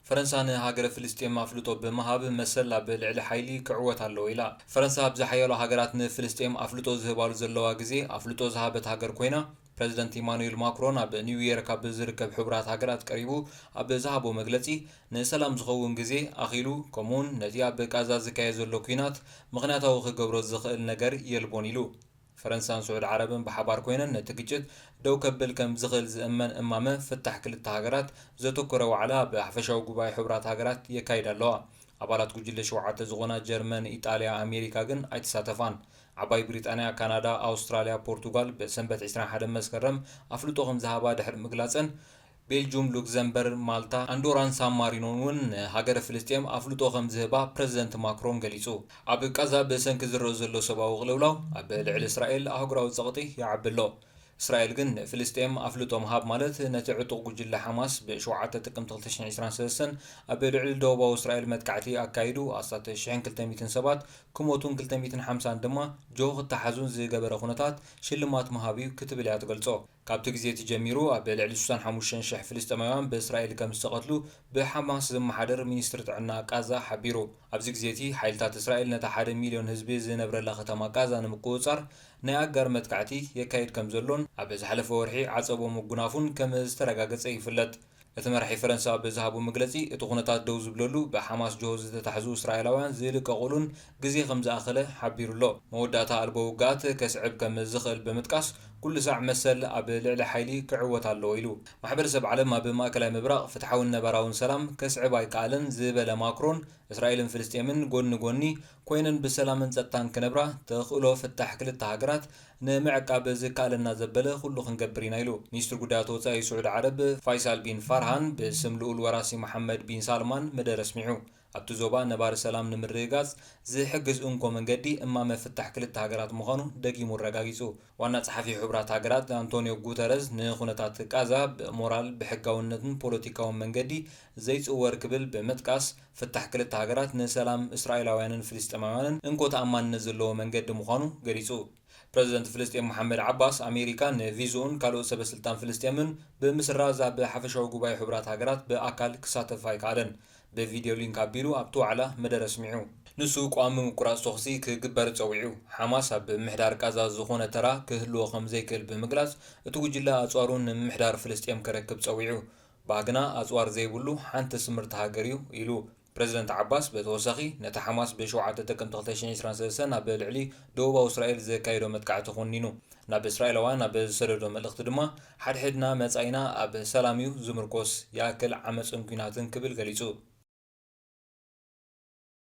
ፈረንሳ ንሃገረ ፍልስጤም ኣፍልጦ ብምሃብ መሰል ኣብ ልዕሊ ሓይሊ ክዕወት ኣለዎ ኢላ። ፈረንሳ ኣብ ዝሓያሎ ሃገራት ንፍልስጤም ኣፍልጦ ዝህባሉ ዘለዋ ግዜ ኣፍልጦ ዝሃበት ሃገር ኮይና፣ ፕረዚደንት ኢማኑኤል ማክሮን ኣብ ኒውዮርክ ኣብ ዝርከብ ሕቡራት ሃገራት ቀሪቡ ኣብ ዝሃቦ መግለጺ፣ ንሰላም ዝኸውን ግዜ ኣኺሉ ከምኡ'ውን ነቲ ኣብ ቃዛ ዝካየድ ዘሎ ኲናት ምኽንያታዊ ክገብሮ ዝኽእል ነገር የልቦን ኢሉ። ፈረንሳን ስዑድ ዓረብን ብሓባር ኮይነን ነቲ ግጭት ደው ከብል ከም ዝኽእል ዝእመን እማመ ፍታሕ ክልተ ሃገራት ዘተኮረ ዋዕላ ብሓፈሻዊ ጉባኤ ሕቡራት ሃገራት የካይዳ ኣለዋ። ኣባላት ጉጅለ ሸውዓተ ዝኾና ጀርመን፣ ኢጣልያ፣ ኣሜሪካ ግን ኣይተሳተፋን። ዓባይ ብሪጣንያ፣ ካናዳ፣ ኣውስትራልያ፣ ፖርቱጋል ብሰንበት ዕስራን ሓደን መስከረም ኣፍልጦ ከም ዝሃባ ድሕሪ ምግላጸን፣ ቤልጁም፣ ሉክዘምበርግ፣ ማልታ፣ ኣንዶራን ሳን ማሪኖን እውን ንሃገረ ፍልስጤም ኣፍልጦ ከም ዝህባ ፕረዚደንት ማክሮን ገሊጹ። ኣብ ቃዛ ብሰንኪ ዝረኦ ዘሎ ሰብኣዊ ቅልውላው ኣብ ልዕሊ እስራኤል ኣህጉራዊ ጸቕጢ ይዓቢ ኣሎ። እስራኤል ግን ንፍልስጤም ኣፍልጦ ምሃብ ማለት ነቲ ዕጡቕ ጉጅለ ሓማስ ብ ሸውዓተ ጥቅምቲ ክልተ ሽሕን ዕስራን ሰለስተን ኣብ ልዕሊ ደቡባዊ እስራኤል መጥቃዕቲ ኣካይዱ ኣስታት ሽሕን ክልተ ሚእትን ሰባት ክሞቱን ክልተ ሚእትን ሓምሳን ድማ ጆሆ ክተሓዙን ዝገበረ ኩነታት ሽልማት ምሃብ'ዩ ክትብል እያ ትገልጾ። ካብቲ ግዜ እቲ ጀሚሩ ኣብ ልዕሊ ስሳን ሓሙሽተን ሽሕ ፍልስጤማውያን ብእስራኤል ከም ዝተቐትሉ ብሓማስ ዝመሓደር ሚኒስትሪ ጥዕና ቃዛ ሓቢሩ። ኣብዚ ግዜ እቲ ሓይልታት እስራኤል ነታ ሓደ ሚልዮን ህዝቢ ዝነብረላ ከተማ ቃዛ ንምቁጽጻር ናይ ኣጋር መጥቃዕቲ የካይድ ከም ዘሎን ኣብ ዝሓለፈ ወርሒ ዓጸቦ ምጉናፉን ከም ዝተረጋገጸ ይፍለጥ። እቲ መራሒ ፈረንሳ ብዝሃቦ መግለጺ፣ እቲ ኩነታት ደው ዝብለሉ ብሓማስ ጅሆ ዝተታሕዙ እስራኤላውያን ዝልቀቑሉን ግዜ ከም ዝኣኸለ ሓቢሩ'ሎ። መወዳእታ ኣልቦ ውግኣት ከስዕብ ከም ዝኽእል ብምጥቃስ፣ ኩሉ ሳዕ መሰል ኣብ ልዕሊ ሓይሊ ክዕወት ኣለዎ ኢሉ። ማሕበረሰብ ዓለም ኣብ ማእከላይ ምብራቕ ፍትሓውን ነባራውን ሰላም ከስዕብ ኣይከኣለን ዝበለ ማክሮን፣ እስራኤልን ፍልስጤምን ጎድኒ ጎድኒ ኰይነን ብሰላምን ጸጥታን ክነብራ ተኽእሎ ፍታሕ ክልተ ሃገራት ንምዕቃብ ዝከኣለና ዘበለ ኩሉ ክንገብር ኢና ኢሉ። ሚኒስትር ጉዳያት ወጻኢ ስዑድ ዓረብ ፋይሳል ቢን ፋርሃን ብስም ልኡል ወራሲ መሓመድ ቢን ሳልማን መደረ ኣስሚዑ። ኣብቲ ዞባ ነባሪ ሰላም ንምርግጋጽ ዝሕግዝ እንኮ መንገዲ እማመ ፍታሕ ክልተ ሃገራት ምዃኑ ደጊሙ ኣረጋጊጹ። ዋና ጸሓፊ ሕቡራት ሃገራት ኣንቶንዮ ጉተረዝ ንኩነታት ቃዛ ብሞራል፣ ብሕጋውነትን ፖለቲካውን መንገዲ ዘይጽወር ክብል ብምጥቃስ፣ ፍታሕ ክልተ ሃገራት ንሰላም እስራኤላውያንን ፍልስጤማውያንን እንኮ ተኣማንነት ዘለዎ መንገዲ ምዃኑ ገሊጹ። ፕረዚደንት ፍልስጤም መሓመድ ዓባስ፣ ኣሜሪካ ንቪዝኡን ካልኦት ሰበስልጣን ፍልስጤምን ብምስራዝ ኣብ ሓፈሻዊ ጉባኤ ሕቡራት ሃገራት ብኣካል ክሳተፍ ኣይከኣለን። ብቪድዮ ሊንክ ኣቢሉ ኣብቲ ዋዕላ መደረ ኣስሚዑ። ንሱ ቀዋሚ ምቁራጽ ተኹሲ ክግበር ጸዊዑ። ሓማስ ኣብ ምምሕዳር ቃዛ ዝዀነ ተራ ክህልዎ ከም ዘይክእል ብምግላጽ፣ እቲ ጕጅለ ኣጽዋሩ ንምምሕዳር ፍልስጤም ከረክብ ጸዊዑ። ባህግና ኣጽዋር ዘይብሉ ሓንቲ ስምርቲ ሃገር እዩ ኢሉ። ፕረዚደንት ዓባስ በተወሳኺ ነቲ ሓማስ ብ ሸውዓተ ጥቅምቲ ክልተ ሽሕን ዕስራን ሰለስተን ኣብ ልዕሊ ደቡባዊ እስራኤል ዘካየዶ መጥቃዕቲ ኮኒኑ። ናብ እስራኤላውያን ኣብ ዝሰደዶ መልእኽቲ ድማ ሓድሕድና መጻኢና ኣብ ሰላም እዩ ዝምርኮስ፣ ይኣክል ዓመጽን ኲናትን ክብል ገሊጹ።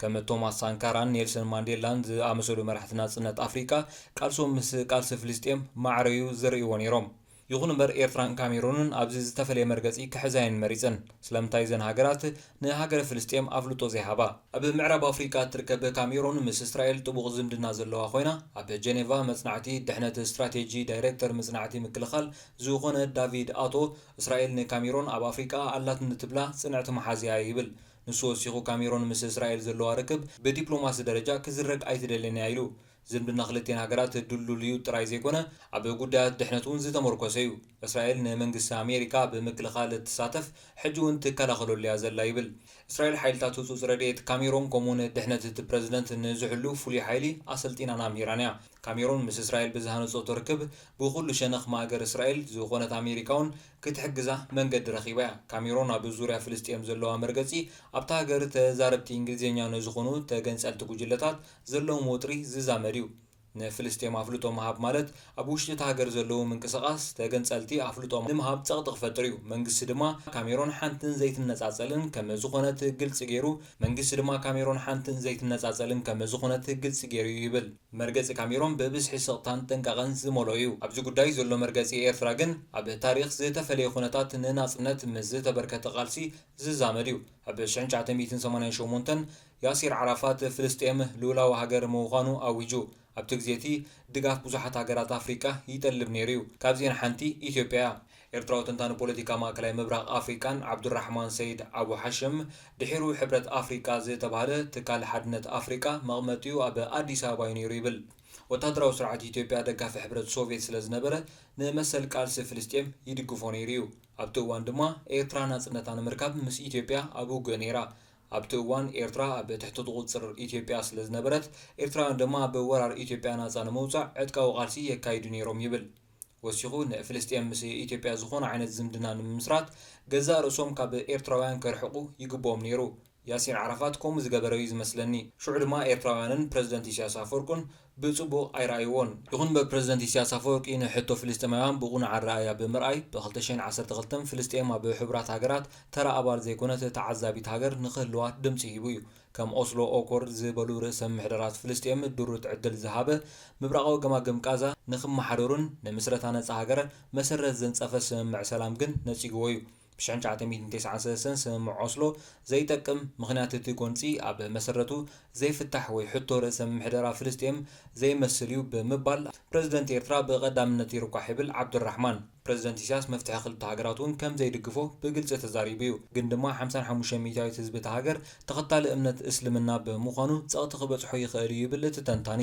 ከም ቶማስ ሳንካራን ኔልሰን ማንዴላን ዝኣመሰሉ መራሕቲ ናጽነት ኣፍሪቃ፣ ቃልሶም ምስ ቃልሲ ፍልስጤም ማዕረ'ዩ ዝርእይዎ ነይሮም። ይኹን'ምበር ኤርትራን ካሜሩንን ኣብዚ ዝተፈለየ መርገጺ ክሕዛ'የን መሪጸን። ስለምንታይ እዘን ሃገራት ንሃገረ ፍልስጤም ኣፍልጦ ዘይሃባ? ኣብ ምዕራብ ኣፍሪቃ እትርከብ ካሜሩን ምስ እስራኤል ጥቡቕ ዝምድና ዘለዋ ኮይና፣ ኣብ ጀኔቫ መጽናዕቲ ድሕነት ስትራቴጂ ዳይረክተር መጽናዕቲ ምክልኻል ዝኾነ ዳቪድ ኣቶ፣ እስራኤል ንካሜሩን ኣብ ኣፍሪቃ ኣላትኒ ትብላ ጽንዕቲ መሓዛ'ያ ይብል። ንሱ ወሲኹ ካሜሮን ምስ እስራኤል ዘለዋ ርክብ ብዲፕሎማሲ ደረጃ ክዝረግ ኣይትደልን እያ ኢሉ። ዝምድና ክልቲኤን ሃገራት ድልዱል እዩ ጥራይ ዘይኮነ ኣብ ጉዳያት ድሕነት እውን ዝተሞርኮሰ እዩ። እስራኤል ንመንግስቲ ኣሜሪካ ኣብ ምክልኻል እትሳተፍ ሕጂ እውን ትከላኸለሉ እያ ዘላ ይብል። እስራኤል ሓይልታት ህጹጽ ረድኤት ካሜሮን ከምኡ'ውን ድሕነት እቲ ፕረዚደንት ንዝሕሉ ፍሉይ ሓይሊ ኣሰልጢናን ኣምሂራን እያ። ካሜሮን ምስ እስራኤል ብዝሃነጸቶ ርክብ ብኹሉ ሸነኽ ማእገር እስራኤል ዝኾነት ኣሜሪካ'ውን ክትሕግዛ መንገዲ ረኺባ እያ። ካሜሮን ኣብ ዙርያ ፍልስጤም ዘለዋ መርገጺ፣ ኣብታ ሃገር ተዛረብቲ እንግሊዝኛ ንዝኾኑ ተገንጸልቲ ጉጅለታት ዘለዎም ወጥሪ ዝዛመድ እዩ። ንፍልስጤም ኣፍልጦ ምሃብ ማለት ኣብ ውሽጢ እታ ሃገር ዘለዉ ምንቅስቓስ ተገንጸልቲ ኣፍልጦ ንምሃብ ጸቕጢ ክፈጥር እዩ። መንግስቲ ድማ ካሜሮን ሓንትን ዘይትነጻጸልን ከም ዝኾነት ግልጺ ገይሩ መንግስቲ ድማ ካሜሮን ሓንትን ዘይትነጻጸልን ከም ዝኾነት ግልጺ ገይሩ እዩ ይብል። መርገጺ ካሜሮን ብብዝሒ ስቕታን ጥንቃቐን ዝመልኦ እዩ። ኣብዚ ጉዳይ ዘሎ መርገጺ ኤርትራ ግን ኣብ ታሪኽ ዝተፈለየ ኩነታት ንናጽነት ምስ ዝተበርከተ ቃልሲ ዝዛመድ እዩ። ኣብ ሽሕን ትሽዓተ ሚእትን ሰማንያን ሸሞንተን ያሲር ዓራፋት ፍልስጤም ልኡላዊ ሃገር ምዃኑ ኣዊጁ። ኣብቲ ግዜ'ቲ ድጋፍ ብዙሓት ሃገራት ኣፍሪቃ ይጠልብ ነይሩ እዩ። ካብዚኤን ሓንቲ ኢትዮጵያ እያ። ኤርትራዊ ተንታኒ ፖለቲካ ማእከላይ ምብራቕ ኣፍሪቃን ዓብዱራሕማን ሰይድ ኣቡ ሓሽም፣ ድሒሩ ሕብረት ኣፍሪቃ ዝተባህለ ትካል ሓድነት ኣፍሪቃ መቕመጢኡ ኣብ ኣዲስ ኣበባ እዩ ነይሩ ይብል። ወተሃደራዊ ስርዓት ኢትዮጵያ ደጋፊ ሕብረት ሶቭየት ስለ ዝነበረ ንመሰል ቃልሲ ፍልስጤም ይድግፎ ነይሩ እዩ። ኣብቲ እዋን ድማ ኤርትራ ናጽነታ ንምርካብ ምስ ኢትዮጵያ ኣብ ውግእ ነይራ። ኣብቲ እዋን ኤርትራ ኣብ ትሕቲ ቁጽጽር ኢትዮጵያ ስለ ዝነበረት ኤርትራውያን ድማ ኣብ ወራር ኢትዮጵያ ናጻ ንምውጻእ ዕጥቃዊ ቃልሲ የካይዱ ነይሮም ይብል ወሲኹ፣ ንፍልስጤም ምስ ኢትዮጵያ ዝኾነ ዓይነት ዝምድና ንምምስራት ገዛእ ርእሶም ካብ ኤርትራውያን ከርሕቑ ይግብኦም ነይሩ። ያሲር ዓራፋት ከምኡ ዝገበረ'ዩ ዝመስለኒ። ሽዑ ድማ ኤርትራውያንን ፕረዚደንት ኢሳያስ ኣፈወርቁን ብጽቡቕ ኣይረኣይዎን። ይኹን'ምበር ፕረዚደንት ኢሳያስ ኣፈወርቂ ንሕቶ ፍልስጤማውያን ብቕኑዕ ኣረኣእያ ብምርኣይ፣ ብ ክልተ ሽሕን ዓሰርተ ክልተን ፍልስጤም ኣብ ሕቡራት ሃገራት ተራ ኣባል ዘይኮነት ተዓዛቢት ሃገር ንኽህልዋ ድምጺ ሂቡ'ዩ። ከም ኦስሎ ኦኮርድ ዝበሉ ርእሰ ምምሕዳራት ፍልስጤም ድሩት ዕድል ዝሃበ ምብራቓዊ ገማግም ቃዛ ንኽመሓደሩን ንምስረታ ነጻ ሃገር መሰረት ዘንጸፈ ስምምዕ ሰላም ግን ነጺግዎ እዩ። ብ ሽሕን ትሽዓተ ሚእትን ተስዓን ሰለስተን ስምምዕ ኦስሎ ዘይጠቅም፣ ምኽንያት እቲ ጎንጺ ኣብ መሰረቱ ዘይፍታሕ ወይ ሕቶ ርእሰ ምምሕደራ ፍልስጤም ዘይመስል እዩ ብምባል ፕረዚደንት ኤርትራ ብቐዳምነት ይርኳሕ ይብል ዓብዱራሕማን። ፕረዚደንት ኢሳያስ መፍትሒ ክልተ ሃገራት እውን ከም ዘይድግፎ ብግልጺ ተዛሪቡ እዩ። ግን ድማ ሓምሳን ሓሙሽተን ሚእታዊት ህዝቢ እታ ሃገር ተኸታሊ እምነት እስልምና ብምዃኑ ጸቕጢ ክበጽሖ ይኽእል እዩ ይብል እቲ ተንታኒ።